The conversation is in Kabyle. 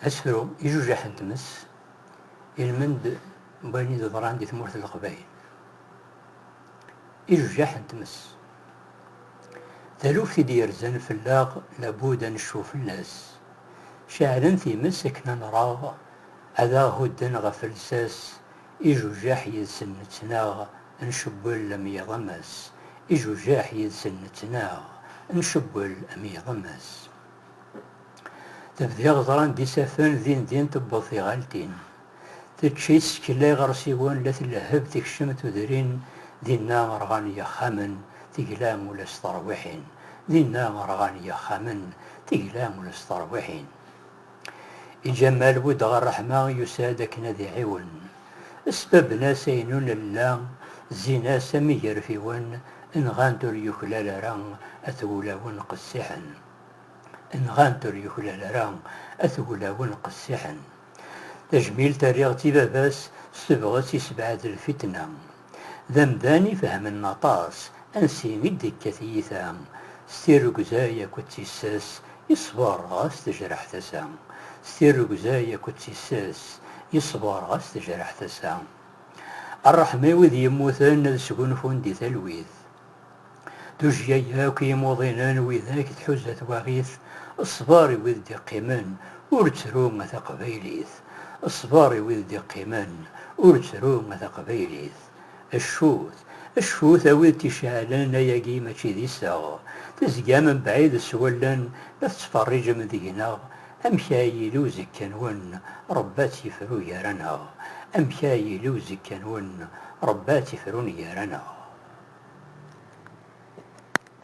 Asefru ijujaḥ n tmes, ilmend n wayen i d-yeḍran di tmurt n Leqbayel. ijujaḥ n tmes. Taluft i d-yerzan fell-aɣ labud ad necfu fell-as. Ceɛlen times akken ad nraɣ, ad aɣ-hudden ɣef lsas, ijujaḥ yid-sen nettnaɣ, ncewwel am yiɣemes, ijujaḥ yid-sen nettnaɣ, ncewwel am yiɣemes. Tebdiɣ ẓran-d isaffen, din din tewweḍ tiɣaltin. Tečč-itt, tella iɣersiwen, la tlehheb, tekcem tudrin, dinna rɣan yixxamen, tegla ula s terwiḥin, dinna rɣan yixxamen, tegla ula s terwiḥin. I Ǧamal Wed ɣer Ṛeḥma yusa-d akken ad iɛiwen. Sbabben-as ayen ur nella, zzin-as am igerfiwen, nɣan-t ur yuklal ara, at wulawen qessiḥen. Nɣan-t ur yuklal ara, at wulawen qessiḥen. Tajmilt terriɣ-tt i baba-s s tebɣest yessebɛed lfitna. D amdan ifehmen aṭas ansi i d-tekka tyita, s tirrugzay akked tissas yeṣber ɣas tejreḥ tasa, s tirrugzay akked tissas yeṣber ɣas tejreḥ tasa. Rreḥma i wid yemmuten ad sgunfun di talwit. Tujjya yakk i yimuḍinen widak tḥuza twaɣit, Ṣṣber i wid d-iqqimen, ur ttru a taqbaylit! Ṣṣber i wid d-iqqimen, ur ttru a taqbaylit! Cfut, cfut a wid t-iceɛlen ayagi mačči d iseɣ, tezgam mebɛid s wallen la tettferriǧem deg-neɣ Amek ara yili uzekka-nwen, Ṛebbi ad tt-ifru gar-aneɣ? Amek ara yili uzekka-nwen, Ṛebbi ad tt-ifrun gar-aneɣ?